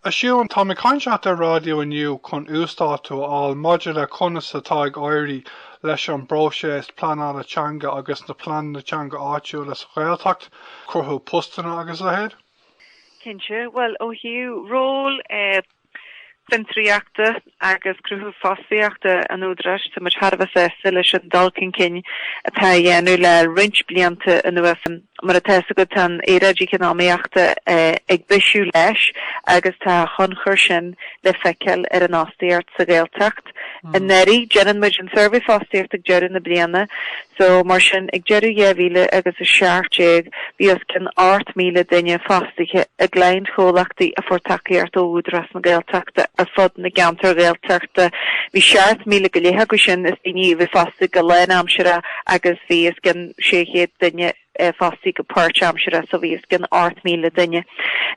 A Shiubhán, táim ag caint leat ar raidió inniu chun uasdátú a fháil maidir le conas atá ag éirí leis an bpróiseas pleanála teanga agus na pleananna teanga áitiúla sa Ghaeltacht, cruthú postanna agus a leithéid. Cinnte, bhuel ó thaobh ról fiontraíochta agus cruthú fostaíochta an Údaráis tá muid thar a bheith sásta leis an dul chun cinn atá á dhéanamh le roinnt blianta anuas. Mar atá 'fhios agat, tá an aeráid eacnamaíochta ag bisiú leis agus tá a thionchar sin le feiceáil ar an fhostaíocht sa Ghaeltacht. Anuraidh, déanann muid an suirbhé fostaíochta ag deireadh na bliana, So, mar sin, ag deireadh 2000 agus 17, bhí os cionn 8,000 duine fostaithe i gcliantchomhlachtaí a fuair tacaíocht ó Údarás na Gaeltachta ar fud na gceantar Gaeltachta. Bhí 7,000 go leith acu sin is daoine a bhí fostaithe go lánaimseartha agus bhí os cionn 600 duine fostaithe go páirtaimseartha so bhí os cionn 8,000 duine.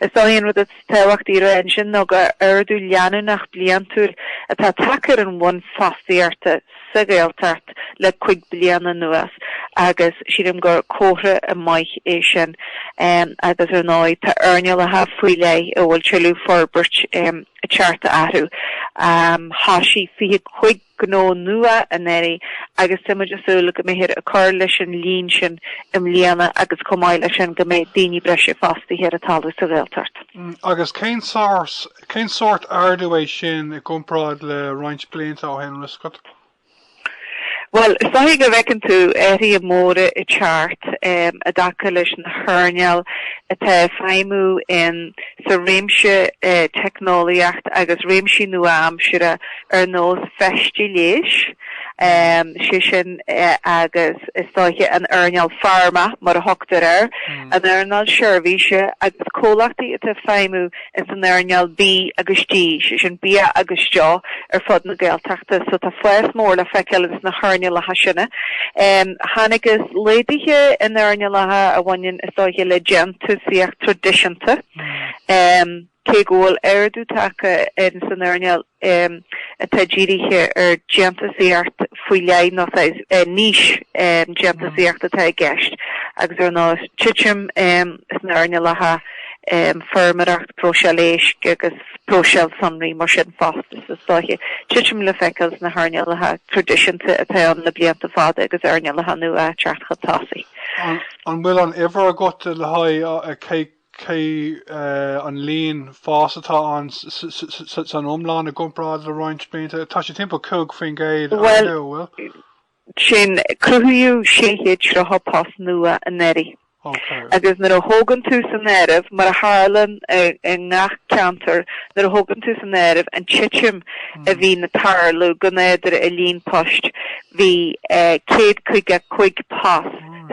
Is dóiche an rud is tábhachtaí roimhe ansin nó gur ardú leanúnach bliantúil atá tagtha ar an bhonn fostaíochta sa Ghaeltacht le cuig bliana anuas agus sílim gur comhartha maith é sin agus ar ndóigh tá earnálacha faoi leith a bhfuil tuilleadh forbairt ag teacht orthu. Thosaigh 25 gnó nua anuraidh agus tá muid ag súil go mbeifear ag cur leis an líon sin i mbliana agus chomh maith leis sin go mbeidh daoine breise fostaithe ar an talamh sa Ghaeltacht. Agus cén sórt ardú é sin i gcomparáid le roinnt blianta ó shin, 'bhfuil 'fhios agat? Bhuel, is dóiche go bhfeiceann tú athruithe móra ag teacht i dtaca leis na hearnáil atá ag feidhmiú in sa réimse teicneolaíocht agus réimsí nua-aimseartha ar nós feistí leighis, sé sin agus is dóiche an earnáil pharma mar a thugtar air, an earnáil seirbhíse agus comhlachtaí atá ag feidhmiú ins an earnáil bídh agus dí, sé sin bia agus deoch, ar fud na Gaeltachta. So tá fás mór le feiceáil ins na hearnálacha sin. Chonacthas laghduithe in earnálacha a bhaineann is dóiche le déan túsaíocht traidisiúnta, cé go bhfuil ardú tagtha ins an earnáil atá dírithe ar dhéantúsaíocht faoi leith, nó niche déantúsaíocht atá i gceist, agus ar ndóigh titim sna earnálacha feirmeoireacht, próiseáil éisc agus próiseáil sonraí. Mar sin fosta, is dóiche, titim le feiceáil sna hearnálacha traidisiúnta atá ann le blianta fada agus earnálacha nua ag teacht chun tosaigh. An bhfuil an uimhir agat le haghaidh cé an líon fás atá ann san iomlán i gcomparáid le roinnt blianta? Tá sé timpeall 5 faoin gcéad a ardú, an bhfuil? Sin, cruthaíodh 630 post nua anuraidh. Agus nuair a thógann tú san áireamh, mar a tharlaíonn i ngach ceantar, nuair a thógann tú san áireamh an titim a bhíonn ag tarlú go nádúrtha i líon poist, bhí 155 post,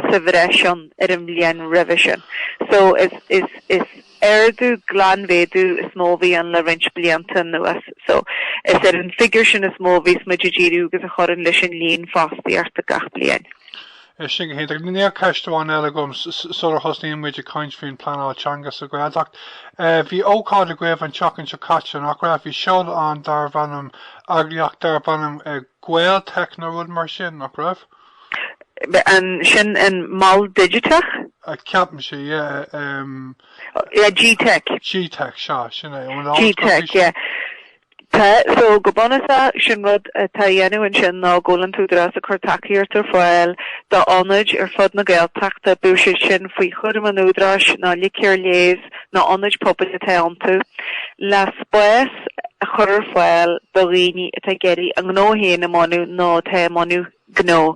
sa bhreis ann ar an mbliain roimhe sin so is ardú, glanmhéadú is mó a bhí ann le roinnt blianta anuas so is ar an figiúr sin is mó a bhíos muid ag díriú agus a chuireann leis an líon fostaíochta gach bliain. Sin go hiontach. Anois ceist amháin eile agam sular thosnaíonn muid ag caint faoin pleanáil teanga sa Ghaeltacht. Eh, bhí ócáid agaibh an tseachtain seo caite nach raibh bhí seoladh an darbh ainm eagraíocht darbh ainm eh, gTeic nó rud mar sin nach raibh? Sin an Mol Digiteach? Ceapaim é, yeah. gTeic. gTeic, sea, sin é, ón alt go gTeic, yeah. Tá, so, go bunúsach, sin rud atá á dhéanamh ansin ná go bhfuil an tÚdarás ag cur tacaíocht ar fáil d'ionaid ar fud na Gaeltachta, bíodh sé sin faoi chúram an Údaráis nó LEADER, leo, nó ionaid pobail atá iontu, le spás a chur ar fáil do dhaoine atá ag iarraidh a ngnó féin a bhunú nó atá i mbun. gnó.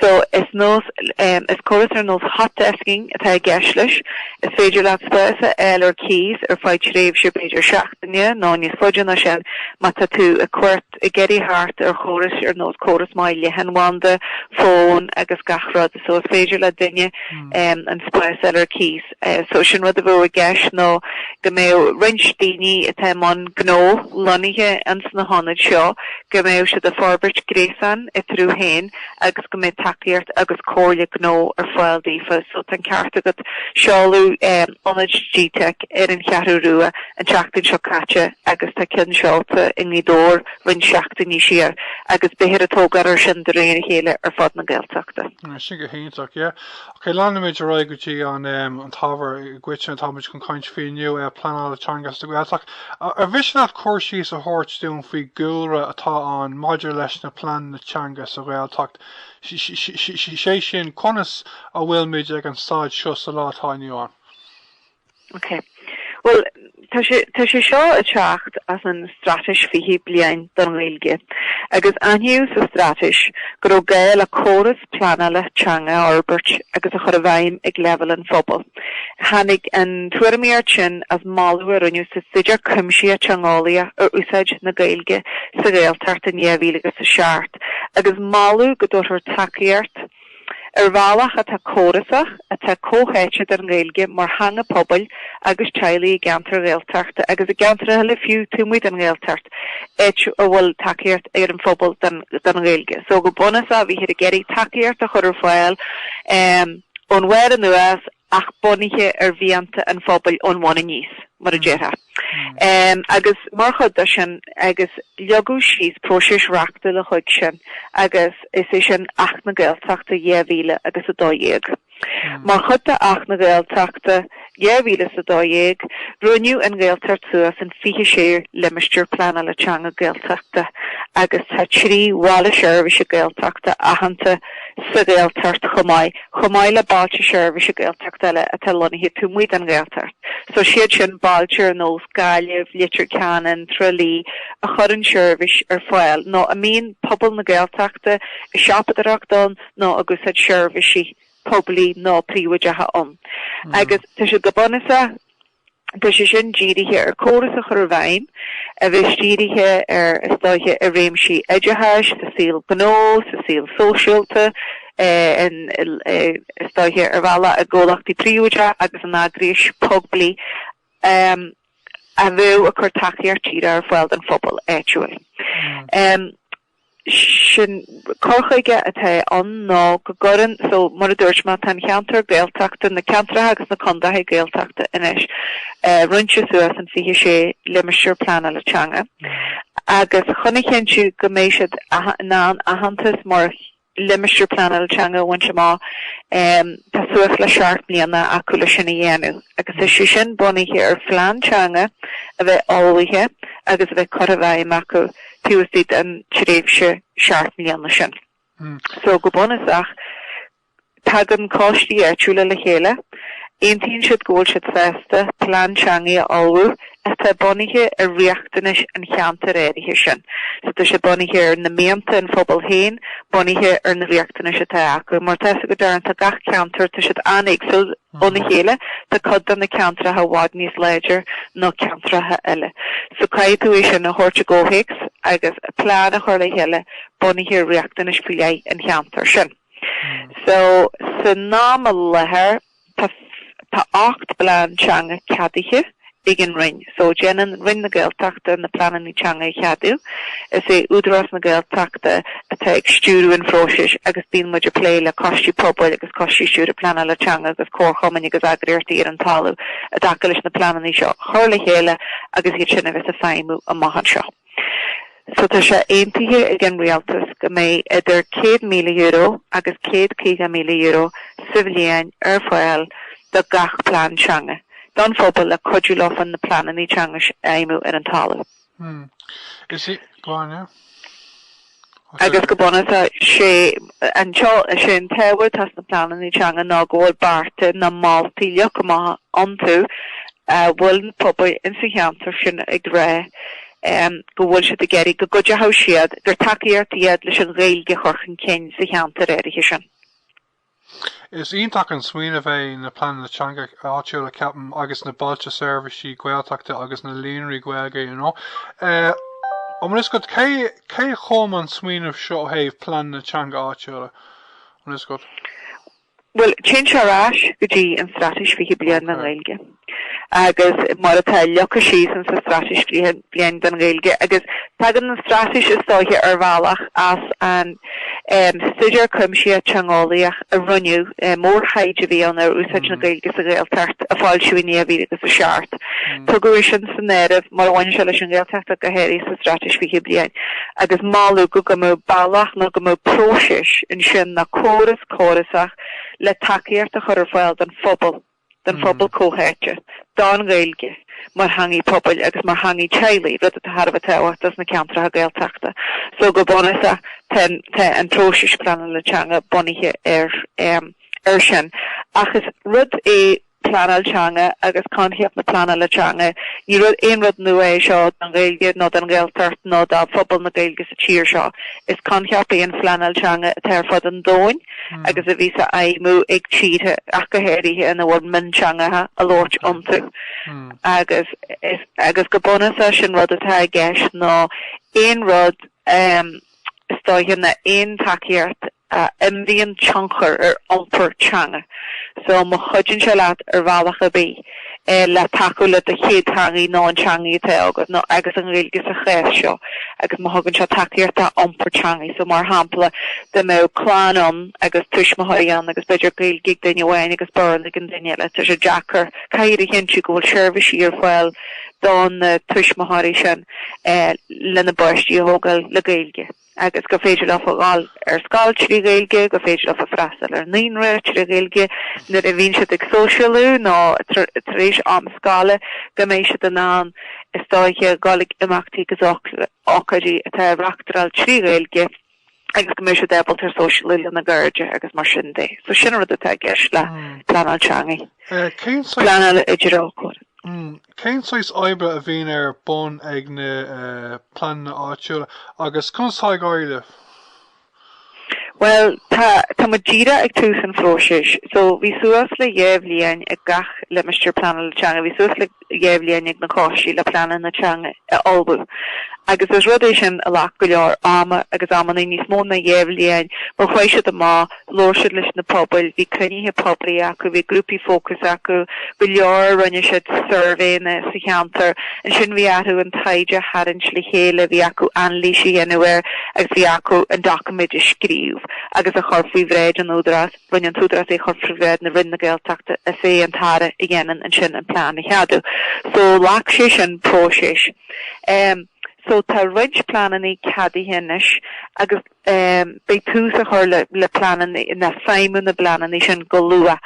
So, is nós, is córas ar nós hotdesking atá i gceist leis. Is féidir leat spás a fháil ar cíos ar feadh tréimhse b'fhéidir seachtaine nó níos faide ná sin má tá tú ar cuairt, ag iarraidh teacht ar chóras ar nós córas maith leathanbhanda, fón agus gach rud. So, is féidir le duine an spás a fháil ar cíos. Só sin rud a bheadh i gceist ná go mbeadh roinnt daoine atá i mbun gnó lonnaithe ins na hionaid seo, go mbeadh siad a' forbairt gréasán eatarthu féin agus go mbeadh tacaíocht agus comhairle gnó ar fáil daofa. So tá an ceart agat, seoladh ionad gTeic ar an Cheathrú Rua an tseachtain seo caite agus tá ceann seolta i nGaoth Dobhair roinnt seachtainí siar agus beifear ag tógáil ar sin de réir a chéile ar fud na Gaeltachta. Sin go hiontach, yeah. Ok, leanaimid ar aghaidh go dtí an ábhar i gcoitinne atáimid chun caint faoi inniu, pleanáil teanga sa Ghaeltacht. Ar mhiste leat cur síos a thabhairt dúinn faoin gcúlra atá ann maidir leis na pleananna teanga sa Ghaeltacht, sé sin conas a bhfuilmid ag an staid seo sa lá atá inniu ann? Ok. Bhuel, tá sé, tá sé seo ag teacht as an Straitéis Fiche Bliain don Ghaeilge, agus aithníodh sa Straitéis go raibh gá le córas pleanála teanga a fhorbairt agus a chur i bhfeidhm ag leibhéal an phobail. Tháinig an tuairimíocht sin as moladh a rinneadh sa Staidéar Cuimsitheach Teangeolaíoch ar úsáid na Gaeilge sa Ghaeltacht in dhá mhíle agus a seacht, agus moladh go dtabharfar tacaíocht, ar bhealach atá córasach, atá comhtháite don Ghaeilge mar theanga pobail agus teaghlaigh i gceantair Ghaeltachta agus i gceantair eile fiú taobh amuigh den Ghaeltacht, áit a bhfuil tacaíocht ón phobal don Ghaeilge. So go bunúsach bhíthear ag iarraidh tacaíocht a chur ar fáil ón bharr anuas ach bunaithe ar mhianta an phobail ón bhun aníos, mar a déarfá. Agus mar chuid de sin, agus leagadh síos próiseas reachtúil chuige sin, agus is é sin Acht na Gaeltachta 2000 agus 12. Mar chuid de Acht na Gaeltachta 2000 is 12, roinneadh an Ghaeltacht suas in 26 Limistéar Pleanála Teanga Gaeltachta agus tá trí Bhaile Seirbhíse Gaeltachta aitheanta, sa Ghaeltacht chomh maith, chomh maith le Bailte Seirbhíse Gaeltachta eile atá lonnaithe taobh amuigh den Ghaeltacht. So is iad sin bailte ar nós Gaillimh, Leitir Ceanainn, Trá Lí, a chuireann seirbhís ar fáil, nó a mbíonn pobal na Gaeltachta ag siopadóireacht ann nó ag úsáid seirbhísí poiblí nó príobháideacha ann. Agus tá sé go bunúsach. Tá sé sin dírithe ar córas a chur i bhfeidhm a bheas dírithe ar thionscadail i réimsí oideachais, sa saol gnó, sa saol sóisialta, thionscadail ar bhealach i gcomhlachtaí príobháideach agus in eagrais phoiblí a bheadh ag cur tacaíocht díreach ar fáil don phobal áitiúil. sin cur chuige atá ann ná go gcuireann, so mar a dúirt mé, tá an ceantar Gaeltachta, na ceantracha agus na contaetha Gaeltachta anois roinnte suas in fiche sé limistéar pleanála teanga, agus chun a chinntiú go mbeidh siad in ann aitheantas mar limistéar pleanála teanga a bhaint amach. Tá suas le seacht mbliana acu le sin a dhéanamh agus tá sé sin bunaithe ar phlean teanga a bheith ullmhaithe agus a bheith curtha i bhfeidhm acu taobh istigh den tréimhse seacht mbliana sin. So go bunúsach, Tagann coistí áitiúla le chéile, aontaíonn siad go bhfuil siad sásta plean teanga a ullmhú atá bunaithe ar riachtanais an cheantair áirithe sin. So tá sé bunaithe ar na mianta an phobail féin, bunaithe ar na riachtanais atá acu. Mar atá fhios agat Darren, tá gach ceantar, tá siad an-éagsúil óna chéile, tá cuid de na ceantracha i bhfad níos láidre ná ceantracha eile. So caithfidh tú é sin a thabhairt i gcomhthéacs agus plean a chur le chéile bunaithe ar riachtanais faoi leith an cheantair sin. So san am i láthair tá ocht bplean teanga ceadaithe ag an Roinn. So déanann Roinn na Gaeltachta na pleananna teanga a cheadú. Is é Údarás na Gaeltachta atá ag stiúradh an phróisis agus bíonn muid ag plé le coistí pobail agus coistí stiúrtha pleanála teanga agus comharchumainn agus eagraíochtaí ar an talamh i dtaca leis na pleananna seo a chur le chéile agus iad sin a bheith ag feidhmiú amach anseo. So tá sé aontaithe ag an rialtas go mbeidh idir €100,000 agus €150,000 sa bhliain ar fáil do gach plean teanga don phobal le cuidiú leofa chun na pleananna teanga a fheidhmiú ar an talamh. Is ea, go on. Agus go bunúsach, sé anseo is é an t-ábhar atá sna pleananna teanga ná go bhfuil bearta nó moltaí leagtha amach iontu a bhfuil na pobail ins an cheantar sin ag rá go bhfuil siad ag iarraidh go gcuideoidh siad, gur tacaíocht iad leis an Ghaeilge a chur chun cinn sa cheantar áirithe sin. Is iontach an smaoineamh é na pleananna teanga áitiúla ceapaim agus na bailte seirbhísí Gaeltachta agus na líonraí Gaeilge you know is cad cé cé a chum an smaoineamh seo ó thaobh pleananna teanga áitiúla is cad. Bhuel téann sé ar ais go dtí an Straitéis 20 Bliain don Ghaeilge. agus mar atá leagtha síos in sa Straitéis 20 Bliain don Ghaeilge, agus tagann an Straitéis is dóiche ar bhealach as an stuidéar cuimsithe teangeolaíoch a rinneadh, mórthaighde a bhí ann ar úsáid na Gaeilge sa Ghaeltacht, a foilsíodh in 2007. Tugadh é sin san áireamh mar a bhaineann sé leis an Ghaeltacht ach go háirithe sa Straitéis 20 Bliain, agus moladh go go mbeadh bealach nó go mbeadh próiseas ansin nó córas córasach le tacaíocht a chur ar fáil don phobal, don phobal comhtháite, don Ghaeilge mar theangaidh pobail agus mar theangaidh teaghlaigh, rud atá thar a bheith tábhachtach dos na ceantracha Gaeltachta. So go bunúsach tá an próiseas pleanála teanga bunaithe air sin. Ach is rud é pleanáil teanga agus coincheap na pleanála teanga, ní rud, aon rud nua é seo don Ghaeilge nó don Ghaeltacht nó do phobal na Gaeilge sa tír seo. Is coincheap é an phleanáil teanga atá ar fud an domhain. agus a bhíos á fheidhmiú ag tíortha, ach go háirithe, ina bhfuil mionteangacha á labhairt iontu. Agus agus go bunúsach sin rud atá i gceist ná aon rud, is dóiche nó aon tacaíocht a imríonn tionchar ar iompar teanga. So má chuideann sé leat ar bhealach ar bith, le tacú le do chéadtheangaí nó an teangaí atá agat nó agus an Ghaeilge sa chás seo agus má thugann sé tacaíocht dá iompar teangaí. So, mar shampla, dá mbeadh clann ann agus tuismitheoirí ann agus b'fhéidir Gaeilge ag duine amháin agus Béarla ag an duine eile, tá sé deacair, caithfear a chinntiú go bhfuil seirbhísí ar fáil dona tuismitheoirí sin lena bpáistí a thógáil le Gaeilge. agus gur féidir leofa a dhul ar scoil trí Ghaeilge, gur féidir leofa freastal ar naíonra trí Ghaeilge, nuair a bhíonn siad ag sóisialú nó tar éis am scoile go mbeidh siad in ann is dóiche dhul ag imeachtaí agus ócáidí atá á reachtáil trí Ghaeilge agus go mbeidh siad ábalta sóisialú lena gcairde agus mar sin de. So sin an rud atá i gceist le hmm. pleanáil teangaí. Eh, pleanáil idir ócáid. Hmm. Cén saghas oibre a bhíonn ar bun ag na pleananna áitiúla agus conas atá ag éirí leo? Bhuel, tá, tá muid díreach ag tús an phróisis. So, bhí suas le dhá bhliain ag gach limistéar pleanála teanga, bhí suas le dhá bhliain ag na coistí le pleananna teanga a ullmhú. Agus is rud é sin a ghlac go leor ama agus amannaí, níos mó ná dhá bhliain, mar chuaigh siad amach, Labhair siad leis na pobail, bhí cruinnithe poiblí acu, bhí grúpaí fócais acu, go leor, rinne siad suirbhéanna sa cheantar. Ansin bhí acu an taighde a tharraingt le chéile, bhí acu anailís a dhéanamh air agus bhí acu an doiciméid a scríobh agus a chur faoi bhráid an Údaráis, rinne an tÚdarás é a chur faoi bhráid na Roinne Gaeltachta, is é an tAire a dhéanann ansin an plean a cheadú. So ghlac sé sin próiseas. So tá roinnt pleananna ceadaithe anois agus. Beidh tús a chur le pleananna, le feidhmiú na bpleananna sin go luath.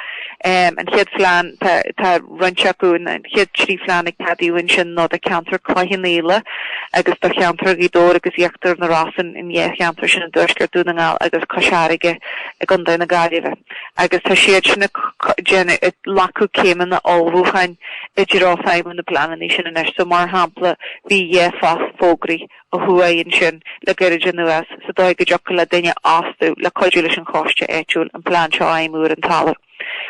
An chéad phlean, tá roinnt acu, an chéad trí phlean a ceadaíodh ansin ná do cheantar Chloich Cheann Fhaola agus do cheantar Ghaoth Dobhair agus Íochtar na Rosann an dá cheantar sin i dTuaisceart Dhún na nGall agus Cois Fharraige i gContae na Gaillimhe. Agus tá siad sin ag déanamh, ag glacadh céimeanna ullmhúcháin i dtreo feidhmiú na bpleananna sin anois. So, mar shampla, bhí dhá fógraí. Ó thuaidh ansin, le gairid anuas, sa dóigh go dtiocfadh le duine a fhostú le cuidiú leis an choiste áitiúil an plean seo a fheidhmiú ar an talamh.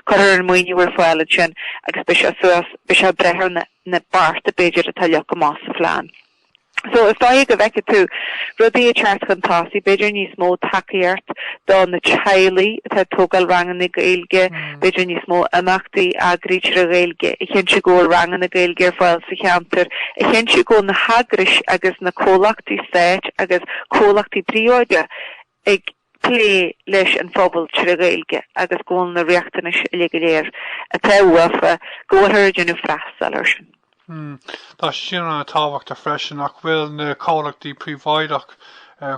Cuirfear an maoiniú ar fáil ansin agus beidh sé suas, beidh sé ag brath ar na na bearta b'fhéidir atá leagtha amach sa phlean. So, is dóigh go bhfeicfidh tú rudaí ag teacht chun tosaigh, b'fhéidir níos mó tacaíocht do na teaghlaigh atá ag tógáil ranganna Gaeilge, b'fhéidir níos mó imeachtaí a eagrú tré Ghaeilge, a chinntiú go bhfuil ranganna Gaeilge ar fáil sa cheantar, a chinntiú go bhfuil na heagrais agus na comhlachtaí stáit agus comhlachtaí príobháideacha ag plé leis an phobal tré Ghaeilge agus go bhfuil na riachtanais uilig go léir atá uafa, go bhfuilthear ag déanamh freastal air sin. Hmm. Tá sé sin ana tábhachtach freisin, nach bhfuil na comhlachtaí príobháideach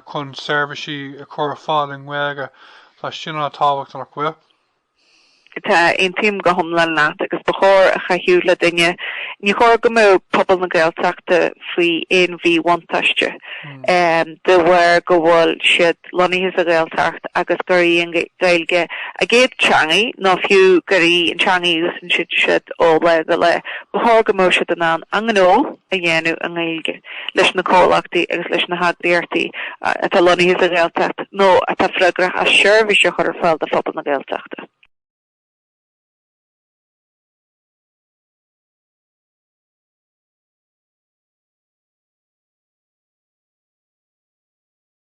chun seirbhísí a chur ar fáil i nGaeilge. Tá sé sin ana tábhacht, nach bhfuil? Tá, aontaím go hiomlán leat agus ba chóir a chaithfeadh le duine, ní chóir go mbeadh pobal na Gaeltachta faoi aon mhíbhuntáiste de bharr go bhfuil siad, lonnaithe sa Ghaeltacht agus gur í an Ghaeilge a gcéad teangaí, nó fiú gur í an teangaí a úsáideann siad ó lae go lae, ba chóir go mbeadh siad in ann a ngnó a dhéanamh i nGaeilge leis na comhlachtaí agus leis na heagraíochtaí atá lonnaithe sa Ghaeltacht nó atá freagrach as seirbhís a chur ar fáil do phobal na Gaeltachta.